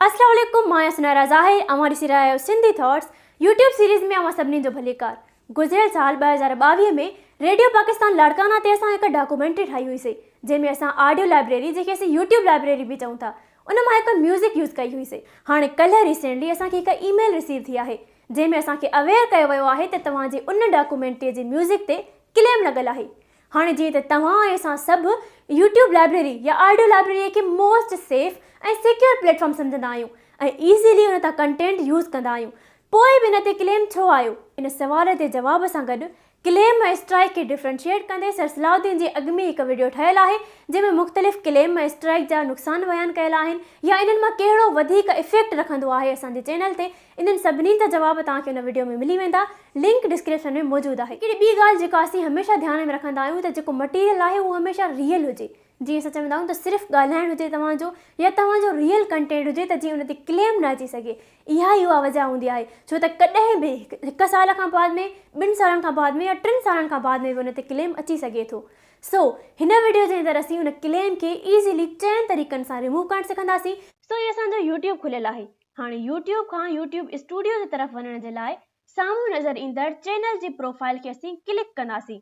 السلام عليڪم مان آهيان سنارا ظاهر اوهان ڏسي رهيا آهيو سنڌي ٿاٽس يوٽيوب سيريز ۾ اوهان سڀني جو ڀليڪار گذريل سال ٻه هزار ٻاويهه ۾ ريڊيو پاڪستان لاڙڪانا تي اسان هڪ ڊاڪومينٽري ٺاهي هئي سي جنهن ۾ اسان آڊيو لائبريري جنهن کي اسين يوٽيوب لائبريري به چئون ٿا ان مان هڪ ميوزڪ يوز ڪئي هئي سي هاڻي ڪلهه ريسينٽلي اسان کي هڪ اي ميل رسيو ٿي آهي جنهن ۾ اسان کي اويئر ڪيو ويو آهي ته توهان جي ان ڊاڪومينٽري جي ميوزڪ تي ڪليم لڳل آهي هاڻي جيئن ته توهان ۽ اسان سڀ يوٽيوب لائبريري يا آڊيو لائبريري کي most safe ۽ secure platform سمجهندا آهيون ۽ ايزيلي ان تان ڪنٽينٽ يوز ڪندا آهيون پوء به ان تي ڪليم ڇو آيو؟ ان سوال جي جواب سان گڏ ڪليم ۽ اسٽرائيڪ کي ڊفرينشيئيٽ ڪندي سر صلاح الدين جي اڳ ۾ ئي هڪ وڊيو ٺهيل آهي جنهن ۾ مختلف ڪليم ۽ اسٽرائيڪ جا نقصان بيان ڪيل آهن يا انهن مان ڪهڙو وڌيڪ افيڪٽ رکندو آهي اسان جي چينل تي انهن سڀني جا جواب توهان کي ان وڊيو ۾ ملي ويندا لنڪ ڊسڪرپشن ۾ موجود آهي. هڪڙي ٻي ڳالهه جيڪا اسين هميشه ڌيان ۾ رکندا آهيون ته جيڪو مٽيريل آهي اهو هميشه ريئل هجي جيئن اسان چوندا آهيون ته صرف ڳالهائڻ هجي توهان جو يا توهان جو ريئل ڪنٽينٽ هجي ته جيئن ان تي ڪليم نه اچي سگهي اها ئي اها وجه هوندي آهي ڇو ته ڪڏهن به هڪ سال کان بعد ۾ ٻن سالن کان بعد ۾ يا ٽن سالن کان بعد ۾ به ان تي ڪليم اچي سگهي ٿو سو هن وڊيو جي اندر اسين ان ڪليم کي ايزلي چئن طريقن سان ريموو ڪرڻ سکنداسين سو هي اسان جو يوٽيوب کليل آهي هاڻي يوٽيوب کان يوٽيوب اسٽوڊيو جي طرف وڃڻ جي لاء سامهون نظر ايندڙ چينل جي پروفائيل کي اسين ڪلڪ ڪنداسين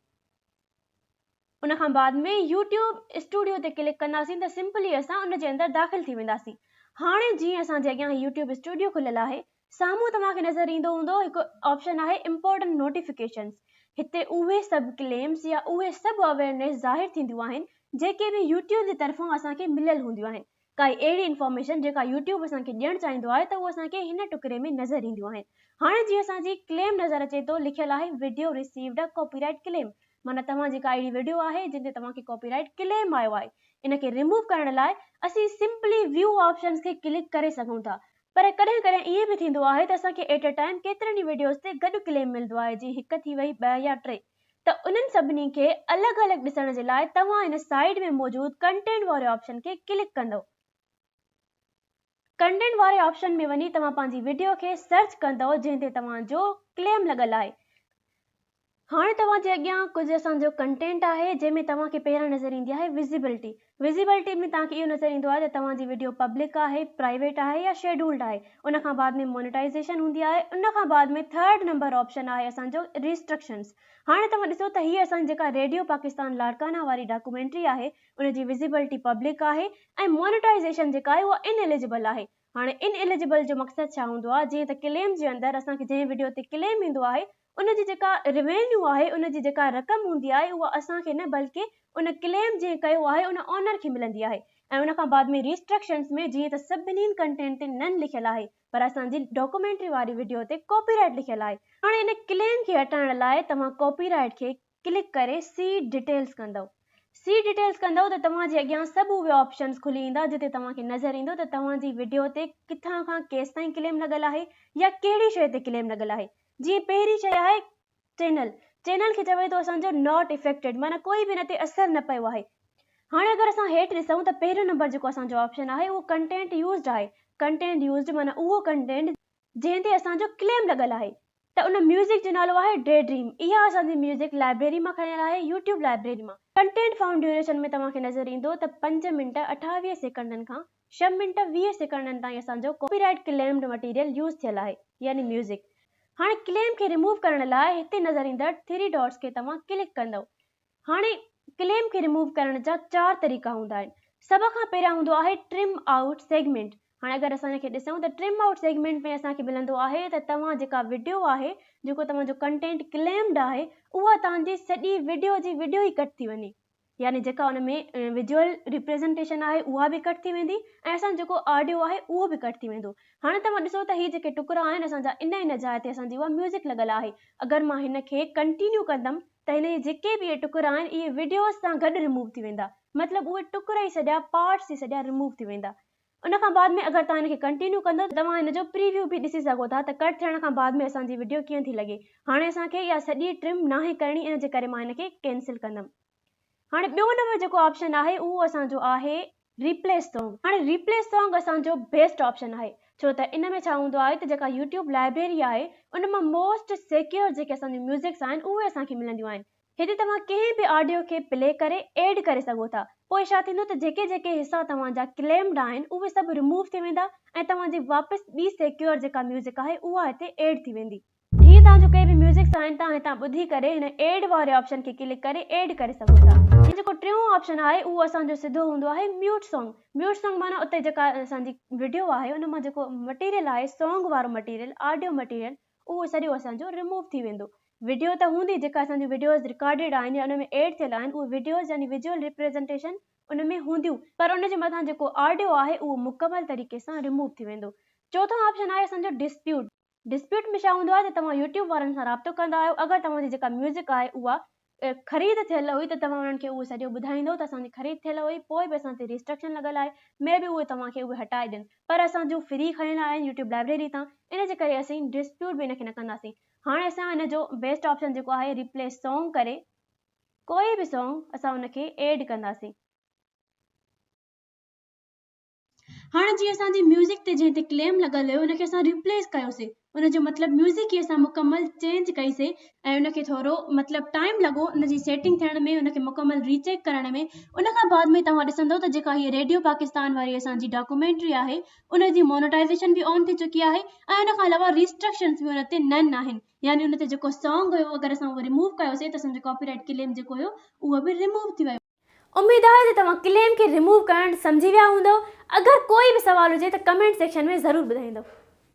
ان کان بعد ۾ يوٽيوب اسٽوڊيو تي ڪلڪ ڪنداسين ته سمپلي اسان ان جي اندر داخل ٿي وينداسين هاڻي جيئن اسان جي اڳيان يوٽيوب اسٽوڊيو کليل آهي سامهون توهان کي نظر ايندو هوندو هڪ آپشن آهي امپورٽنٽ نوٽيفڪيشنز هتي اهي سڀ ڪليمز يا اهي سڀ اويرنيس ظاهر ٿينديون آهن جيڪي به يوٽيوب جي طرفان اسان کي مليل هونديون آهن ڪائي اهڙي انفارميشن جيڪا يوٽيوب اسان کي ڏيڻ چاهيندو آهي ته اهو اسان کي هن ٽڪري ۾ نظر اينديون آهن هاڻي جيئن اسان جي ڪليم نظر اچي ٿو لکيل آهي video received a copyright claim معنيٰ توهان جي ڪا اهڙي وڊيو آهي جنهن تي توهان کي ڪاپي رائيٽ ڪليم آيو آهي ان کي ريموو ڪرڻ لاء اسين سمپلي ويو آپشنز کي ڪلڪ ڪري سگهون ٿا پر ڪڏهن ڪڏهن ائين به ٿيندو آهي ته اسان کي ايٽ ا ٽائيم ڪيترن ئي وڊيوز تي گڏ ڪليم ملندو آهي جيئن هڪ ٿي وئي ٻه يا ٽي. ته انهن سڀني کي الڳ الڳ ڏسڻ جي لاء توهان هن سائيٽ ۾ موجود ڪنٽينٽ واري آپشن کي ڪلڪ ڪندؤ. ڪنٽينٽ واري آپشن ۾ وڃي توهان پنهنجي وڊيو کي سرچ ڪندؤ جنهن تي توهان جو ڪليم لڳل آهي. هاڻي توهان جي اڳيان ڪجهه اسان جو ڪنٽينٽ آهي جنهن ۾ توهان کي پهريان نظر ايندي آهي وزيبلٽي. وزيبلٽي ۾ توهان کي اهو نظر ايندو آهي ته توهان جي وڊيو پبلڪ آهي، پرائيويٽ آهي يا شيڊولڊ آهي. ان کان بعد ۾ مونيٽائيزيشن هوندي آهي. ان کان بعد ۾ ٿرڊ نمبر آپشن آهي اسان جو ريسٽرڪشنز. هاڻي توهان ڏسو ته هيء اسان جي جيڪا ريڊيو پاڪستان لاڙڪانا واري ڊاڪومينٽري آهي ان جي وزيبلٽي پبلڪ آهي ۽ مونيٽائيزيشن جيڪا آهي اها ان اليجبل آهي. هاڻي ان اليجبل جو مقصد ڇا هوندو آهي جيئن ته ڪليم جي اندر اسان کي جنهن وڊيو تي ڪليم ايندو آهي ان جي جيڪا روينيو آهي، ان جي جيڪا رقم هوندي آهي اها اسان کي نه بلڪه ان ڪليم جنهن ڪيو آهي ان اونر کي ملندي آهي ۽ ان کان بعد ۾ ريسٽرڪشنز ۾ جيئن ته سڀني ڪنٽينٽ تي نن لکيل آهي پر اسان جي ڊاڪومينٽري واري وڊيو تي ڪاپي رائيٽ لکيل آهي هاڻي ان ڪليم کي هٽائڻ لاء توهان ڪاپي رائيٽ کي ڪلڪ ڪري Seat Details ڪندؤ. Seat Details ڪندؤ ته توهان جي اڳيان سڀ اهي آپشنز کلي ايندا جتي توهان کي نظر ايندو ته توهان جي وڊيو تي ڪٿان کان ڪيستائين ڪليم لڳل آهي يا ڪهڙي شيء تي ڪليم لڳل آهي. جيئن پهرين شيء آهي چينل. چينل کي چوي ٿو اسان جو Not Affected معنيٰ ڪوئي به ان تي اثر نه پيو آهي. هاڻي اگر اسان هيٺ ڏسون ته پهريون نمبر جيڪو اسان جو آپشن آهي اهو Content Used آهي. Content Used معنيٰ اهو ڪنٽينٽ جنهن تي اسان جو ڪليم لڳل آهي ته ان ميوزڪ جو نالو آهي ڊي ڊريم اها اسان جي ميوزڪ لائبريري مان کڻيل آهي يوٽيوب لائبريري مان ڪنٽينٽ فائونڊ ڊيوريشن ۾ توهان کي نظر ايندو ته پنج منٽ اٺاويهه سيڪنڊن کان ڇهه منٽ ويهه سيڪنڊن تائين اسان جو copyright claimed material use ٿيل آهي يعني ميوزڪ هاڻي ڪليم کي ريموو ڪرڻ لاء هتي نظر ايندڙ ٿري ڊاٽس کي توهان ڪلڪ ڪندئو هاڻي ڪليم کي ريموو ڪرڻ جا چار طريقا هوندا آهن سڀ کان پهريان هوندو آهي ٽرم آئوٽ سيگمينٽ هاڻي اگر اسان ان کي ڏسون ته ٽرم آئوٽ سيگمينٽ ۾ اسان کي ملندو آهي ته توهان جيڪا وڊيو آهي جيڪو توهان جو ڪنٽينٽ ڪليمڊ آهي اها توهان جي سڄي وڊيو جي وڊيو ئي ڪٽ ٿي وڃي يعني جيڪا ان ۾ ويجوئل ريپريزنٽيشن آهي اها به ڪٽ ٿي ويندي ۽ اسان جو جيڪو آڊيو آهي اهو به ڪٽ ٿي ويندو هاڻي توهان ڏسو ته هي جيڪي ٽڪرا آهن اسان جا ان ان جاء تي اسان جي اها ميوزڪ لڳل آهي اگر مان هن کي ڪنٽينيو ڪندم ته هن جي جيڪي به اهي ٽڪرا آهن اهي وڊيوز سان گڏ رموو ٿي ويندا مطلب اهي ٽڪر ئي سڄا پارٽس ئي سڄا رموو ٿي ويندا ان کان بعد ۾ اگر توهان هن کي ڪنٽينيو ڪندو ته توهان هن جو پريويو به ڏسي سگهو ٿا ته ڪٽ ٿيڻ کان بعد ۾ اسان جي وڊيو ڪيئن ٿي لڳي هاڻي اسان کي اها سڄي ٽرم ناهي ڪرڻي ان جي ڪري مان هن کي ڪينسل ڪندم هاڻي ٻيو نمبر جيڪو آپشن آهي اهو اسان جو آهي ريپليس سانگ هاڻي ريپليس سانگ اسان جو بيسٽ آپشن آهي ڇو ته ان ۾ ڇا هوندو آهي ته جيڪا يوٽيوب لائبريري آهي ان مان موسٽ سيڪيور جيڪي اسان جون ميوزڪس آهن اهي اسان کي ملنديون آهن هتي توهان ڪنهن به آڊيو کي پلي ڪري ايڊ ڪري سگهو ٿا پوء ڇا ٿيندو ته جيڪي جيڪي حصا توهان جا ڪليمڊ آهن اهي سڀ رموو ٿي ويندا ۽ توهان جي واپس ٻي سيڪيور جيڪا ميوزڪ آهي اها هتي ايڊ ٿي ويندي. جيئن توهان جو ڪي به ميوزڪ سائين توهان هتان ٻڌي ڪري هن ايڊ واري آپشن کي ڪلڪ ڪري ايڊ ڪري سگهو ٿا ۽ جيڪو ٽيون آپشن آهي اهو اسان جو سڌو هوندو آهي ميوٽ سانگ ميوٽ سانگ معنيٰ اتي جيڪا اسان جي وڊيو آهي ان مان جيڪو مٽيريل آهي سانگ وارو مٽيريل آڊيو مٽيريل اهو سڄو اسان جو رموو ٿي ويندو وڊيو ته هوندي جيڪا اسان جون وڊيوز رڪارڊيڊ آهن يا ان ۾ ايڊ ٿيل آهن اهي وڊيوز يعني وزيول ريپريزنٽيشن ان ۾ هونديون پر ان جي مٿان جيڪو آڊيو آهي اهو مڪمل طريقي سان رموو ٿي ويندو چوٿون آپشن آهي اسان جو ڊسپيوٽ. ڊسپيوٽ ۾ ڇا هوندو آهي ته توهان يوٽيوب وارن سان رابطو ڪندا آهيو اگر توهان جي جيڪا ميوزڪ آهي اها خريد ٿيل هئي ته توهان انهن کي اهو سڄو ٻڌائيندو ته اسان جي خريد ٿيل هئي پوء به اسان تي ريسٽرڪشن لڳل آهي مي بي اهي توهان کي اهي هٽائي ڏين پر اسان جون فري کڻيل آهن يوٽيوب لائبريري تان ان جي ڪري اسين ڊسپيوٽ به ان کي نه ڪنداسين هاڻي اسان ان جو بيسٽ آپشن جيڪو آهي ريپليس سانگ ڪري ڪوئي به سانگ اسان ان کي ايڊ ڪنداسين. هاڻ جي اسان جي ميوزڪ تي جنهن تي ڪليم لڳل هيو ان کي اسان ريپليس ڪيوسي ان جو مطلب ميوزڪ ئي اسان مڪمل چينج ڪئي سي ۽ ان کي ٿورو مطلب ٽائيم لڳو ان جي سيٽنگ ٿيڻ ۾ ان کي مڪمل ريچيڪ ڪرڻ ۾ ان کان بعد ۾ توهان ڏسندو ته جيڪا هي ريڊيو پاڪستان واري اسان جي ڊاڪومينٽري آهي ان جي مونوٽائيزيشن به آن ٿي چڪي آهي ۽ ان کان علاوه ريسٽرڪشنز به ان تي نن آهن يعني ان تي جيڪو سانگ هيو اگر اسان اهو ريموو ڪيوسي ته اسان جو ڪاپي رائيٽ ڪليم جيڪو هيو اهو به ريموو ٿي ويو اميد آهي ته توهان ڪليم کي ريموو ڪرڻ سمجهي ويا هوندؤ اگر ڪوئي به سوال هجي ته ڪمينٽ سيڪشن ۾ ضرور ٻڌائيندؤ.